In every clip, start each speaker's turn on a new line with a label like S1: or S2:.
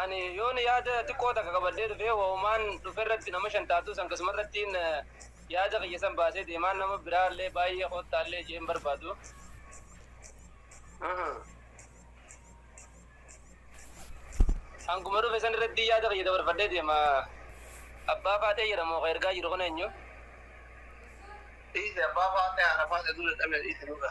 S1: Ani yoon yaada xiqqoo takka qabadhee dhufee wahumaan dhuferratti nama shan taatuu san kasumarrattiin yaada kiyya san baasee deemaan nama biraallee baay'ee koottaallee jeen barbaadu. Hanguma dhufe san irratti yaada kiyya dabarfadhee deema. Abbaa faaxee jedhamu ka ergaa jiru kun eenyu? Dhiise
S2: abbaa faaxee haadha faaxee duula dhabee dhiise nurra.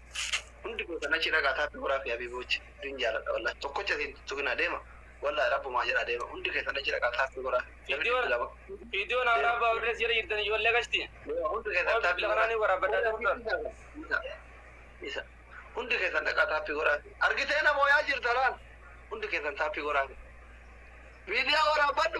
S2: Hundi keessan achi dhaqaa taa Dooraa fi Abibuuch isin jaaladha wallahi tokkocha isin tuttuqina deema wallahi rabbumaa jedhaa deema hundi keessan achi dhaqaa taa Dooraa namni dhibbi lama
S1: Viidiyoo naaf dhaabbaa warri as jala jirtan ijoollee gashti. deema hundi keessan Waan taa
S2: bilbila kanaa ni waraabbadhaa turtan. Isa isa hundi keessan dhaqaa taappii godhaa argitee namoo yaa jirta laal hundi keessan taappii godhaa miidiyaa waraabbadhu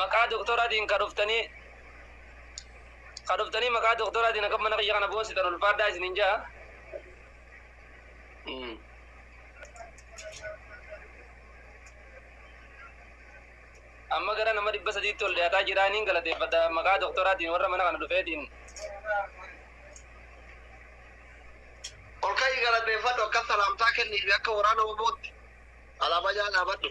S1: maqaa doktoraatiin ka dhuftanii ka dhuftanii maqaa doktoraatiin akka mana kiyya kana boonsitan ulfaadhaa isinin ja'a. Mm. Amma gara nama dhibba sadiitti ol dhiyaataa jiraa niin galateeffadha maqaa doktoraatiin warra mana kana dhufeetiin.
S2: Ol ka'ii galateeffadhu akka salaamtaa kenniifi akka waraana obootti alaabaa jala dhaabadhu.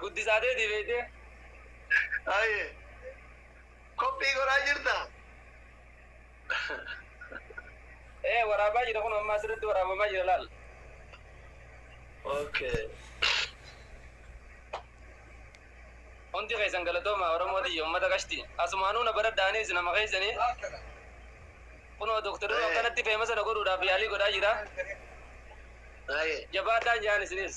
S2: Guddisaa teetii
S1: beektee?
S2: Haye. Koppii godhaa jirta?
S1: Ee waraabaa jira kun ammaa sirriitti waraabamaa jira laal.
S2: Okay.
S1: Hundi keessan galatoomaa Oromoo tiyya uummata qashti. Asumaanuu na baradha anis nama keessanii. Kunoo doktorri Ee. akkanatti feema sana godhuudhaaf yaalii godhaa jira. Haye. Jabaadhaan jaan isinis.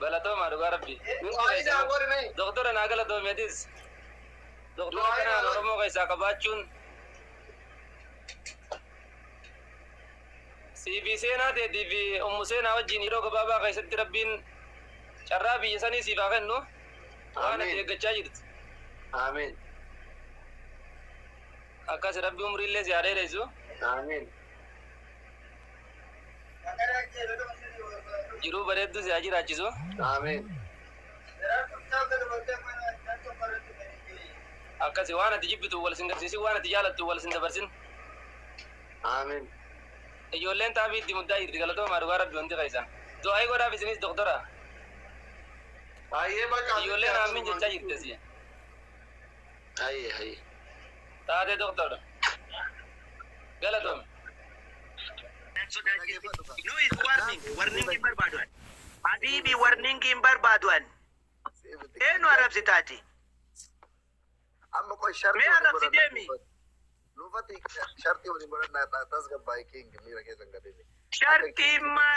S1: Galatoomaa dhugaa rabbii. Du'aa isaa godhime. Doktora naa galatoomi atis. Doktora Du'aa kanaan isaa- Oromoo keessaa qabaachuun siifi seenaa teetii fi ummu seenaa wajjin yeroo gabaabaa keessatti rabbiin carraa biyya sanii siif haa kennu waan Amiin. ati eeggachaa jirtu. Amiin. Akkas rabbi umriillee si haa dheeressu. Amiin. Jiruu bareedduu si haa jiraachisu. Aamiin. Akkasi waan ati jibbitu wal sin garsiisin waan ati jaalattu wal sin dabarsin.
S2: Aamiin.
S1: Ijoolleen xaafii itti muddaa jirti galatoomaa dhugaa rabbi hundi keessan. Du'aa'ii godhaaf isinis doktora. Ayyee
S2: bakka Ijoolleen aammiin jechaa jirti
S1: asii. Haye
S2: haye. Taatee
S1: Doktar. Galatomi. Nan sodaachifti.
S3: Noise warning. Warning hin barbaadu ani. Habiibi warning hin barbaadu ani. Eenu arrabsita ati.
S2: Amma qoy sharti Mee arrabsi deemi.
S3: Lufati
S2: sharti waliin godhannaa tasgabbaa'e king miira keessan gadhee. Sharti immaa.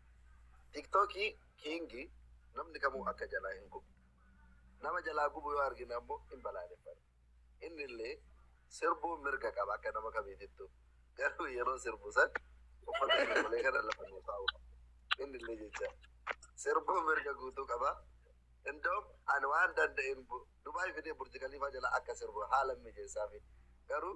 S2: Tiktok king namni kamuu akka jalaa hin gubne. Nama jalaa gubu yoo argine ammoo hin balaaleffanna. Innillee sirbuun mirga qaba akka nama kamiitittuu. Garuu yeroo sirbu san uffata sirbulee kana lafa nuu kaa'uu qaba. Innillee jecha sirbuun mirga guutuu qaba. Indoom ani waan danda'een Dubaay fidee Burji Kaliifaa jalaa akka sirbu haalan mijeessaafii. Garuu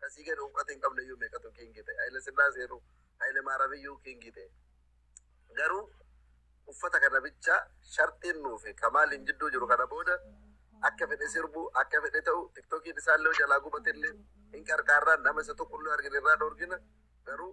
S2: Ka sii gadi uwqata hin qabneyyuu meeqatu kiingii ta'e. Hayile Sillaaseenuu, Hayile Maaramiyyuu kiingii ta'e. Garuu uffata
S4: kana bicha sharxiin nuu fi Kamaaliin jidduu jiru kana booda akka fedhe sirbu, akka fedhe ta'u, tiktokiin isaallee jalaa gubatellee hin qarqaarra, nama isa tokkollee argine irraa dhoorgina. Garuu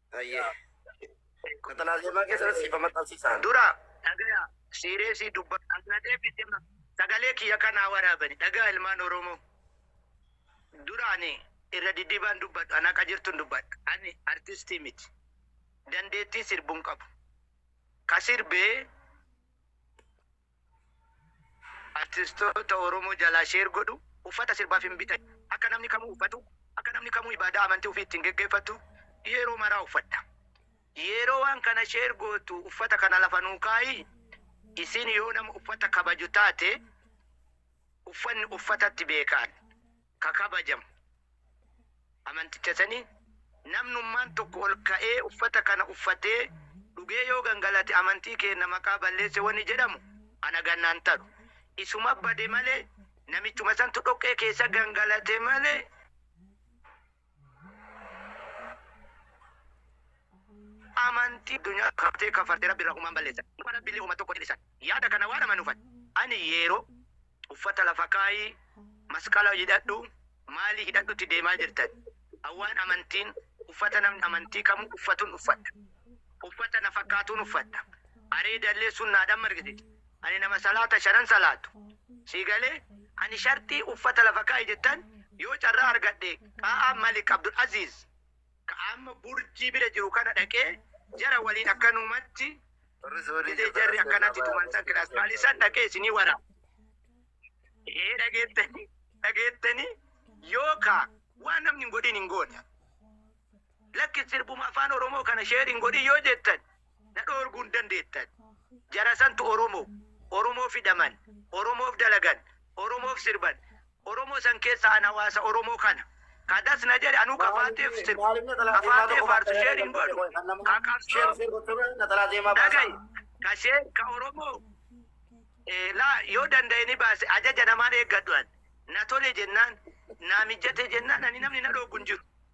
S5: Hayyee. Qaxalaa zeemaa keessatti siifa maxxansiisaan. Dura dhagaya
S3: siireesii dubba ana deebite ma- sagalee kiyya kanaa waraabani dhagaa ilmaan Oromoo. Dura ani irra diddibaan dubbadhu ana akka jirtun dubbadha. Ani artistii miti. Dandeettii sirbuun qabu. Ka sirbee Artistoota Oromoo jalaa share godhu Uffata sirbaaf hin bitan Akka namni kamuu uffatu Akka namni kamuu ibaadaa amantii ufii ittiin geggeeffattu Yeroo maraa uffadha Yeroo waan kana share gootu uffata kana lafa nuu kaayi Isiin yoo nama uffata kabaju taate Uffanni uffatatti beekaan. ka kabajamu amanticha sanii, namnummaan tokko ol ka'ee uffata kana uffatee dhugee yoo gangalate amantii keenna maqaa balleesse wani jedhamu ana gannaan taru. Isuma bade malee namichuma santu dhoqqee keessa gangalate malee. amantii addunyaa qabtee kafartee rabbi irraa humaan balleessan dhuma rabbillee huma tokko dhisan yaada kana waan amanufan ani yeeroo uffata lafa kaayii masqala hidhadhu maalii hidhadhutti deemaa jirtan awwaan amantiin uffata namni amantii kamu uffatun uffadha uffata na fakkaatuun uffadha areedallee sunnaadhaan margisiisa Ani nama salaata shanan salaatu. Sii galee? Ani sharxii uffata lafa kaa'i jettan yoo carraa argadhe qa'aa Malik Abdul Aziiz ka amma Burjii bira jiru kana dhaqee jara waliin akkanumatti jedhee jarri akkanatti tuman san kilaas maalii san dhaqee isinii wara. Ee dhageettanii dhageettanii yoo ka waan namni hin godhin hin goone. Lakki sirbuma afaan Oromoo kana sheer hin godhin yoo jettan na dhoorguu hin dandeettan. Jara santu Oromo, Oromoo fidaman, Oromoof dalagan, Oromoof sirban. Oromo san keessa an hawaasa Oromoo kana. Ka das na jedhe anuu ka Faaxeef sirbu, ka Faaxee faarsu share hin godhu. Ka qabsoo dhagayi, ka share, ka Oromoo la yoo dandaye ni baase ajaja namaan eeggadhu an. Na tole jennaan, naa mijjate jennaan ani namni na dhooggu hin jiru.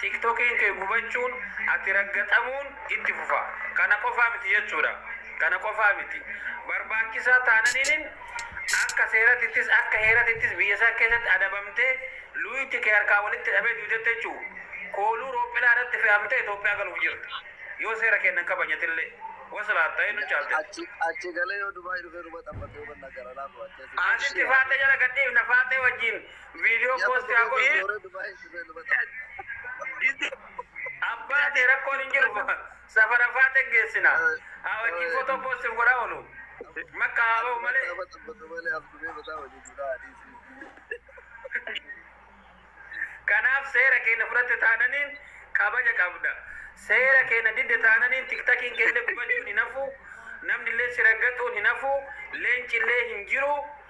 S1: Tiktokiin kee gubachuun, ati raggaxamuun itti fufa. Kana qofaa miti jechuudha. Kana qofaa miti. Barbaachisaa taananiinin akka seeratittis akka heeratittis biyya san keessatti adabamtee luuyti kee harkaa walitti hidhamee duutetta jechuu. Kooluu roopphilaa irratti fe'amtee Itoophiyaa galuuf jirta. Yoo seera keenna hin kabajatillee. Waslaat ta'ee nu caaltetta. Achi achi galee yoo
S4: Dubai dhufee nu baxaffate yoo banna gara laafu achi asi. Asitti faaxee jala
S1: gad dhiifna. Faaxee wajjiin. Viidiyoo poostii haa godhu. Booree Dubaay dhufee dubata. Gisti abbaa ta'e rakkoon hin jiru. Safara faata hin geessina. Haa wajjin footoo poostii godhaa oolu. Makka haa ba'u malee. Nama tabbatu malee as dhufee bataa wajjin duraa adiisii. Kanaaf seera keenya fudhatte taananiin kabaja qabda. Seera keenya didde taananiin tiktakiin keellee gubachuun hin hafu. Namni illee si raggaxuun hin hafu. Leenci illee hin jiru.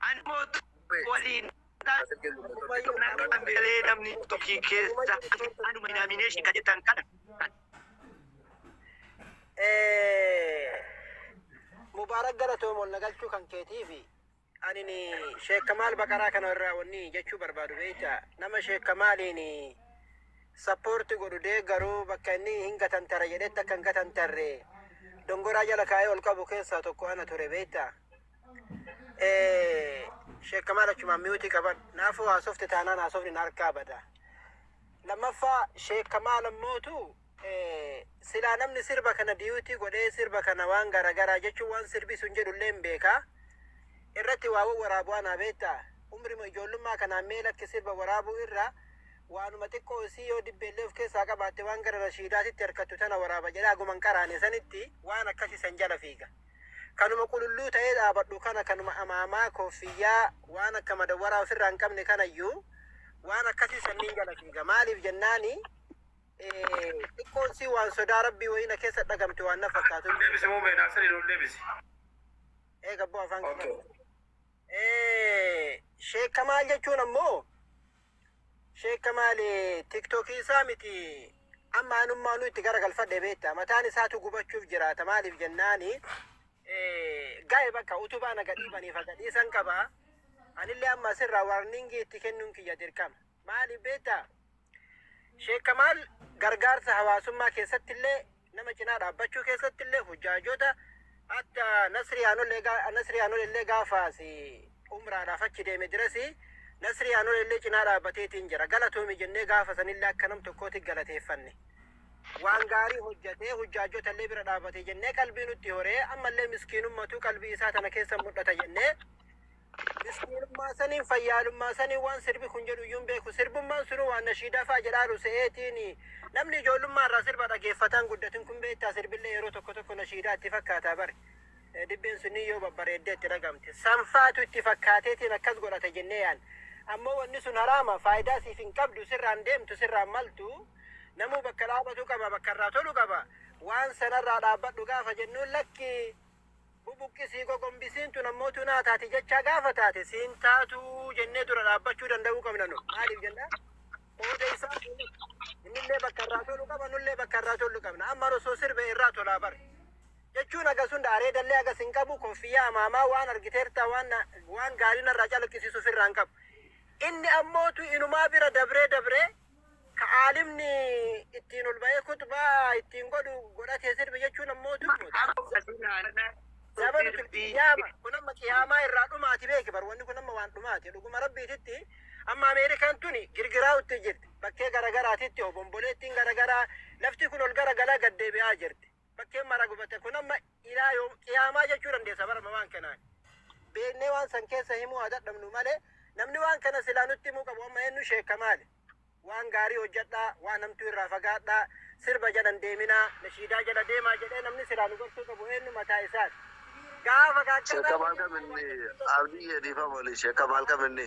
S3: Ani mootu waliin Naggaan beelee namni tokkii keessa anuma inaamineeshin ka jettan kana kan
S6: Mubaarak galatoom ol nagalchuu kan keetii fi anini Sheek Kamaal Baqaraa kana irraa wanni jechuu barbaadu beekta nama Sheek Kamaaliin sappoorti godhu deeggaru bakka inni hin gatantara jedhetti akka hin gatantarre dongoraa jala kaa'ee ol qabu keessaa tokko ana ture beekta. Eh, Sheekh Kamaal achumaan miyuutii qaban. Naafuu haasofte taanaan haasofni na harkaa bada. Lammaffaa Sheekh Kamaal ammootu eh, silaa namni sirba kana diyuutii godhee sirba kana waan garaagaraa jechuun waan sirbi sun jedhullee hin beekaa. Irratti waa waraabu'aa naa beektaa. Umrima ijoollummaa kanaan mee lakki sirba waraabuu irra waanuma xiqqoo isii yoo dibbeellee of keessaa qabaatte waan gara rashiidaatitti harkattu tana waraaba jedhaa guman qaraane sanitti waan akkasii san jala fiiga. Kanuma qululluu ta'ee dhaabadhu kana kanuma amaamaa, kooffiyyaa, waan akka madawwaraa ofirraa hin qabne kanayyuu waan akkasii san niin jala fiiga. Maaliif jennaani eh, xiqqoon sii waan sodaa rabbii wayii na keessa dhagamte waan na fakkaatu. Deebisi moo mee naaf sirrii
S1: deebisi. Eega
S6: abboo afaan Okay. kiyya. Eh, Sheekka maal jechuun ammoo Sheek Kamaal tiktokii isaa miti amma anummaa nu itti garagalfadhe beekta mataan isaatu gubachuuf jiraata maaliif jennaani ga'e bakka utubaa na gadhiibaniif gadhiisan qaba anillee amma asirraa warningii itti kennuun kiyya dirqama maaliif beekta Sheek Kamaal gargaarsa hawaasummaa keessatti illee Nama cinaa dhaabbachuu keessatti illee hujjaajota akka Nasrii Anol egaa Nasrii Anol illee gaafaas umraadhaaf achi deeme dirasi Nasrii Anol illee cinaa dhaabbateetiin jira galatoomi jennee gaafa sanillee akka nam tokkooti galateeffanne. Waan gaarii hojjetee hujjaajota illee bira dhaabbate jennee qalbii nutti horee ammallee miskiinummatu qalbii isaa tana keessa mul'ata jennee Miskiinummaa saniin fayyaalummaa saniin waan sirbi kun jedhu iyyuu hin beeku. Sirbummaan sunuu waan nashiidaa fa'a jedhaaru se'eetiini. Namni ijoollummaa irraa sirba dhageeffataan guddatin kun beektaa sirbillee yeroo tokko tokko nashiidaa itti fakkaataa bari. Eh, Dibbeen sunniin yoo babbareeddee itti dhagamte. Sanfaatu itti fakkaateetiin akkas godhata jennee yaan. Ammoo wanni sun haraama faayidaa siif hin qabdu sirraan deemtu sirraan maltu. Namuu bakka dhaabatu qaba bakka irraa tolu qaba. Waan sanarraa dhaabbadhu gaafa jennuun lakki Bubuqqisii gogombisiin tun ammoo tunaa taati jechaa gaafa taate siin taatu jennee dura dhaabbachuu danda'uu qabna nu. Maaliif jenna? Qooda isaa innillee bakka irraa tolu qaba nullee bakka irraa tolu qabna. Amma osoo sirbe irraa tolaa bar. Jechuun agas hunda areedallee agas hin qabu koffiyyaa amaamaa waan argiteerta waan na- waan gaarii narraa calaqqisiisu ofirraa hin qabu. Inni ammootu inumaa bira dabree dabree ka aalimni ittiin ol ba'ee kutbaa ittiin godhu godhatee sirbi jechuun ammoo dubbata. Zabanu qiyaama kun amma qiyaamaa irraa dhumaati beeki bar wanni kun amma waan dhumaati dhuguma rabbiititti amma Ameerikaan tuni girgiraa'utti jirti bakkee garagaraatitti obomboleettiin garagaraa lafti kun ol garagaraa gad deebi'aa jirti. bakkeen mara gubate kun amma ilaa yoom qiyaamaa jechuu dandeessa bara mamaan kenaan beeknee waan san keessa himuu haa dadhabnu malee namni waan kana silaa nutti himuu qabu amma eenyu sheekka maali waan gaarii hojjedhaa waan namtuu irraa fagaadhaa sirba jedhan deeminaa nashiidaa jedha deemaa jedhee namni silaa nu gorsuu qabu eenyu mataa isaati gaafa Sheekka
S4: gaachannaa maal qabinni abdii jedhiifa mali sheekka maal qabinni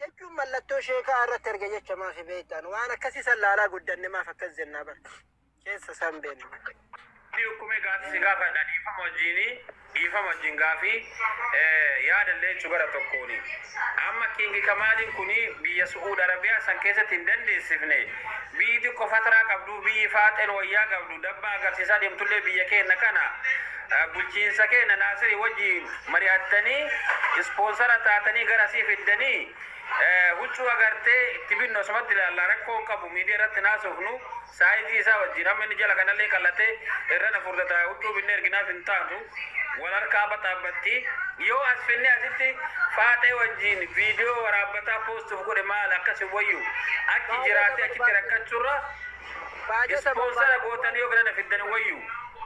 S4: Jechuun
S6: mallattoo sheekaa irratti arge jecha maafi beektaan waan akkasii san laalaa guddanne maaf akkas jennaa bar keessa san beenna. Ani ukkume
S1: gaati si gaafadha dhiifama wajjiini dhiifama wajjin gaafi eh, yaada illee jechu gara tokkooni amma kingi kamaaliin kuni biyya su'uud arabiyaa san keessatti hin dandeessifne biyyi xiqqo fataraa qabdu biyyi faaxeen wayyaa qabdu dabba agarsiisaa deemtullee biyya keenna kana Bulchiinsa keenna Naasiri wajjiin mari'attanii ispoonsara taatanii gara asii fiddanii huccuu agartee itti binnu asumatti ilaalla rakkoo hin qabu miidiya irratti hin haasofnu saayizii isaa wajjiin amma inni jala kanallee qal'atee irra na furdata huccuu binnee erginaaf hin taatu wal harkaa baxaabbatti yoo as finnee asitti faaxee wajjiin viidiyoo waraabbataa poostuuf godhe maal akkas hin wayyu achi jiraatee achitti rakkachurra ispoonsara gootanii yoo gara na fiddan hin wayyu.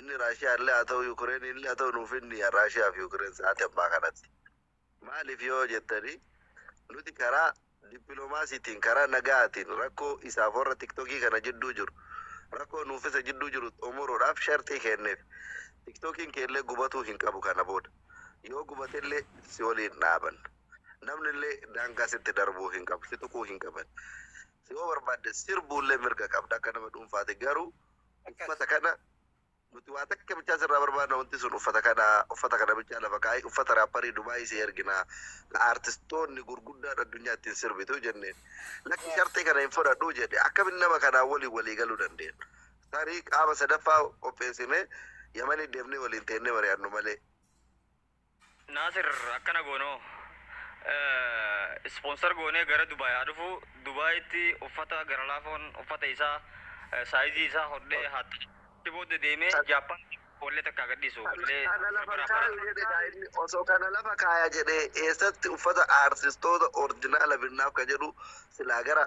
S4: Inni Raashiyaa illee haa ta'u Yukireen illee haa ta'u nuuf inni Raashiyaa fi Yukireen sa'aatii ammaa kanatti. Maaliif yoo jettanii nuti karaa dippiloomaasiitiin karaa nagaatiin rakkoo isaaf warra tiktokii kana jidduu jiru rakkoo nuuf isa jidduu jiru xumuruudhaaf sharxii kenneef. Tiktokiin keellee gubatuu hin qabu kana booda. Yoo gubatellee si waliin dhaaban. Namni illee daangaa sitti darbuu hin qabu, si tuquu hin qaban. Si yoo barbaadde sirbuullee mirga qabda akka nama dhuunfaati garuu uffata kana nuti waa takka bichaa sirraa barbaadna wanti sun uffata kana uffata kana bichaa lafa kaa'i uffata raapparii dubaayii si ergina la artistoonni gurguddaan addunyaa ittiin sirbitu jenneen lakki sharxii kana hin fudhadhu jedhe akkamitti nama kanaa waliin walii galuu dandeenya tarii qaama sadaffaa qopheessine yamanii deemnee waliin teennee mari'annu malee
S7: Naasir akkana goonoo sponsor goonee gara Dubaay haa dhufu Dubaayitti uffata gara laafoon uffata isaa saayizii isaa hodhee haa ta'e booda deemee Jaappaan wallee takka haa gadhiisu wallee Kana lafa sirbaraan kaaya baratu. jedhe kaa inni
S4: osoo kana lafa kaaya jedhe eessatti uffata aartistoota orjinaala binnaaf ka jedhu silaa gara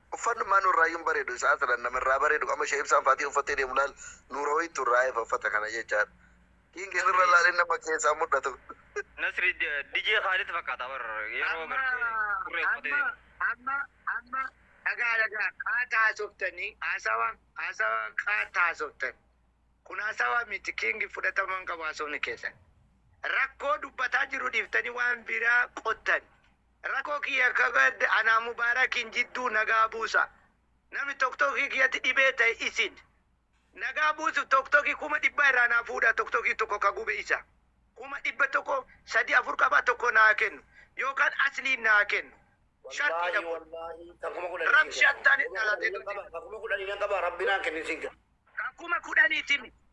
S4: Uffanni ummaa nuurraayyuu hin bareedu isa aslan nama irraa bareedu qama ishee ibsaan faatiya uffattee deemu laal nuura wayii tun raayfa uffata kana jechaadha king sirra laalin nama keessaa mul'atu. Nasri
S7: DJ Khalid fakkaata bar yeroo Amma gartee turree uffatee amma deemu. amma amma
S3: dhagaa dhagaa qaata haasoftanii haasawa haasawa qaata haasoftan kun haasawa miti kiingi fudhatama hin qabu haasofni keessan rakkoo dubbataa jiru dhiiftanii waan biraa qottan Rako kiya kabad ana mubarakin jiddu naga busa nami toktoki kiyati dhibe tae isin naga busuf toktoki kuma dhibba ira na fudha toktoki toko ka gube isa kuma dhibba toko sadi afur qaba toko na kenu yokan asli na kenu sharti dha kun rabsha tane dhalate doti. Ka kuma kudhani nan
S5: qaba rabbi na kenin sin kena. Ka kuma kudhani
S3: timi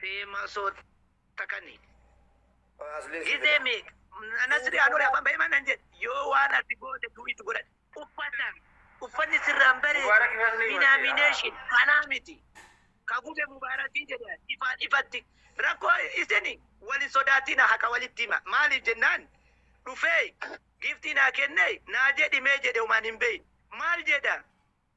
S3: Fee masoo takani. Aslee si Gizee fida. meeq? Nasri anuu afaan bahee manan jedhe yoo waan ati goote tuu itti godhan. Uffata uffanni sirraan bareedu Mubaarak Nasri denomination kanaa miti. Ka gube mubaarakii jedhe ifaan ifatti rakkoo isini wal hin sodaatina haqa walitti hima maaliif jennaan dhufee giiftii naa kennee naa jedhi mee jedhe homaan hin beeyne maal jedha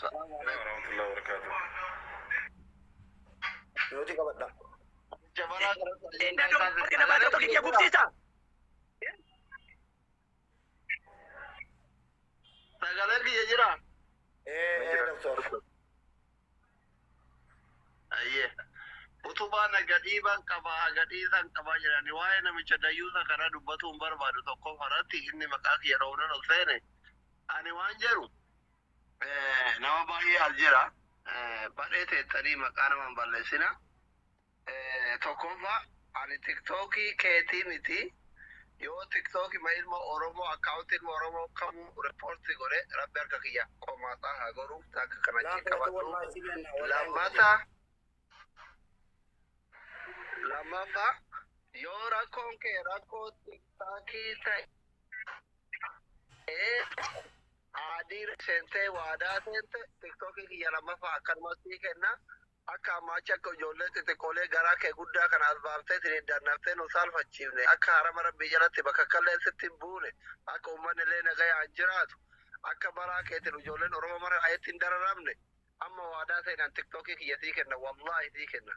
S5: Salaam
S1: alaikum warahmatullahi wabarakatuh.
S5: Nuti qabadha. Jabaraa gara Leen Leen dadoo
S3: dadoo Leen namaa tokko kiyya gubsiisa.
S2: Sagalee kiyya jira.
S5: Ee ee
S2: doktor.
S4: Ayyee. Utubaa na gadhiiban qaba gadhiisan qaba jedhani waa'ee namicha dayyuusa kana dubbatuun barbaadu tokko irratti inni maqaa kiyya dhoonan ol seene. Ani waan jedhu Eh, nama baay'ee as jira Eh, badhee teettanii maqaa nama hin balleessina Eh, tokkoffaa ani tiktookii keetii miti yoo tiktookii ma ilma oromoo akkaawunti ilma oromoo kamuu riippoorti godhe rabbi harka kiyya qomaasaa haa godhu takka kana achiin Laafatu qabadhu wallahi si kenna wallahi. lammata lammaffaa yoo rakkoon kee rakkoo tiktookii ta'e Aadii seentee waadaa seente tiktoki kiyya lammaffaa akkanuman sii kenna akka ammaa achi akka ijoollee xixiqqoolee garaa kee guddaa kana as baaftee siniin dannaftee nu saalfachiifne akka harama rabbii jalatti bakakkalleen sitti hin buune akka ummannilee nagayaan jiraatu akka baraa keetin ijoolleen oromoo mara aetti hin dararamne amma waadaa seenan tiktoki kiyya sii kenna wallaahi sii kenna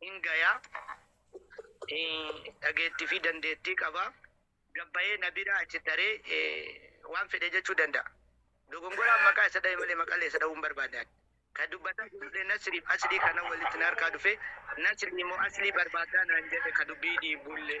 S3: hin gaya. Dhageettii fi dandeettii qaba. Gabbayee na bira achi taree waan fedhe jechuu danda'a. Dogongoraan maqaa isa dhahe malee maqalee isa dhahuu hin barbaanne ani. Kan dubbataa jirullee Nasriif Aslii kana walitti na harkaa dhufee Nasrii moo Aslii barbaaddaa naan jedhe ka dubbii dhiibullee.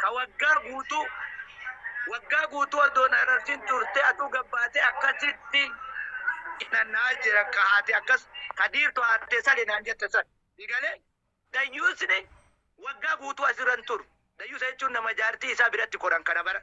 S3: Ka waggaa guutuu Waggaa guutuu adoo na hin argin turtee atuu gad baatee akkasitti Nanna'aa jira ka haati akkas Ka diirtu haati tee sali naan jette san Sii galee Dayyuusni waggaa guutuu asirra hin turu Dayyuusa jechuun nama jaartii isaa biratti koran kana bara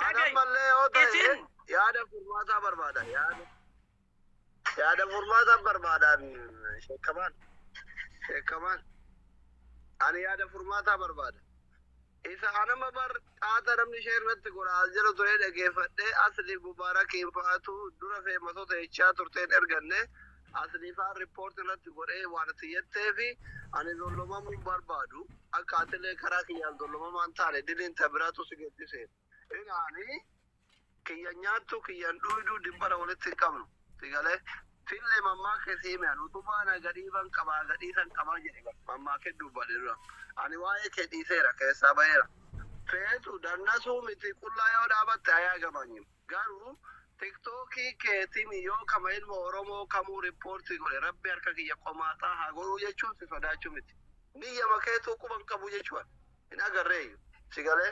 S4: Kan Dhaga'i. ammallee yoo ta'e Isin- yaada furmaataa barbaada. Yaada, yaada furmaataa barbaadaan sheekamaan. Sheekamaan. Ani yaada furmaataa barbaada. Isa anama bar xaata namni ishee irratti godhaa jira ture dhageeffadhee asli mubaarak hin fa'aatu dura feematota jechaa turteen erganne Asli faan report irratti godhee waan itti jetteefi ani dollomamuu hin barbaadu akka atilee karaa kiyyaan dollomamaa hin taane diliin ta biraatu si geessise ilaali kiyyan nyaattu kiyyan dhuyduu dimbara walitti hin qabnu si galee fille mammaa kee si hime ani utubaa na gadhiiban qabaa gadhiisan qabaa jedhe bar mammaa kee dubbadhe dura ani waa'ee kee dhiiseera keessaa baheera feetu dannasuu miti qullaa yoo dhaabatte ayaa gamanyimu Garuu tiktok keetin yoo kama ilma oromoo kamuu report godhe rabbi harka kiyya qomaaxaa haa godhuu jechuun si sodaachuu miti niyyama keetuu quba hin qabu jechuu hin agarreeyyu si galee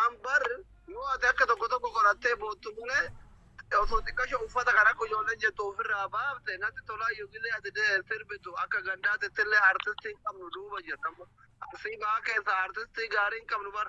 S4: an bar yoo ati akka tokko tokko qorattee boottu malee osoo xiqqasho uffata kan akka ijoolleen jettu ofirraa baafte natti tolaa yogilee ati de- sirbitu akka gandaatittillee artistii hin qabnu duuba jirta arsii ba'aa keessaa artistii gaarii hin qabnu bar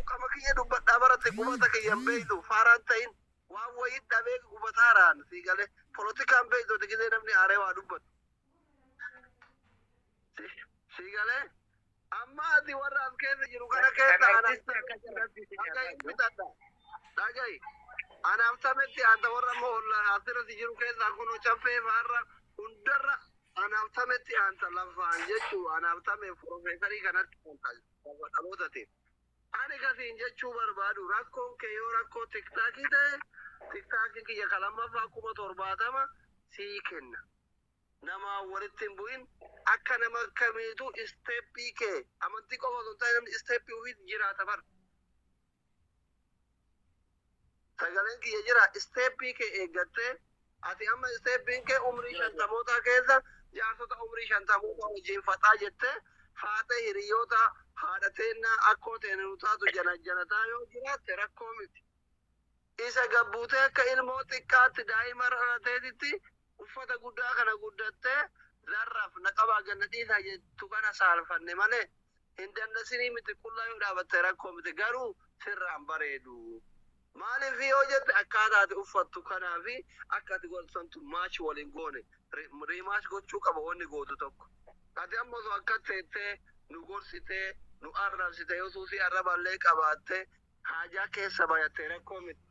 S4: Ukama kiyya dubbadhaa baratte gumata kiyya hin beeytu faaraan ta'in waan wayii dhabee gubataaraan sii galee polotikaan beeytu ati gizee namni aaree waa dubbatu. Sii galee? Amma ati warra as keessa jiru kana keessa anaaf dhagahi bitadha. Dhagahi. Anaaf tametti anta warra amma olla asirratti jiru keessa kun caffee faarra hundarra anaaf
S2: tametti anta lafaan jechuu anaaf tame profeesarii kanatti anta lafa dhalootatiin. Ani kasiin jechuu barbaadu rakkoon kee yoo rakkoo tiktaakii ta'e tiktaakii kiyya kan lammaffaa kuma torbaatama sii kenna. namaan walitti hin bu'in akka nama kamiitu step kee amantii qofa osoo hin taane namni step ufiitti jiraata bar sagaleen kiyya jira step kee eeggattee ati amma step kee umrii shantamootaa keessa jaarsota umrii shantamootaa wajjin faxaa jettee faaxee hiriyoota haadha teennaa akkoo teenu taatu janajjanataa yoo jiraatte rakkoo miti Isa gad buutee akka ilmoo xiqqaatti daa'ima irra dhalateetitti uffata guddaa kana guddattee larraf na qabaa gad na dhiisaa jettu kana saalfanne malee hin dannasinii miti qullaa yoo dhaabatte rakkoo miti garuu sirraa hin bareedu. Maaliif yoo jette akkaataa ati uffattu kanaa fi akka ati godhattu santu match wal hin goone. Rematch gochuu qaba wanni gootu tokko. Ati amma osoo akkas teettee nu gorsitee, nu arrabsite, yoo suusii arrabaallee qabaattee haajaa keessa bayatte rakkoo miti.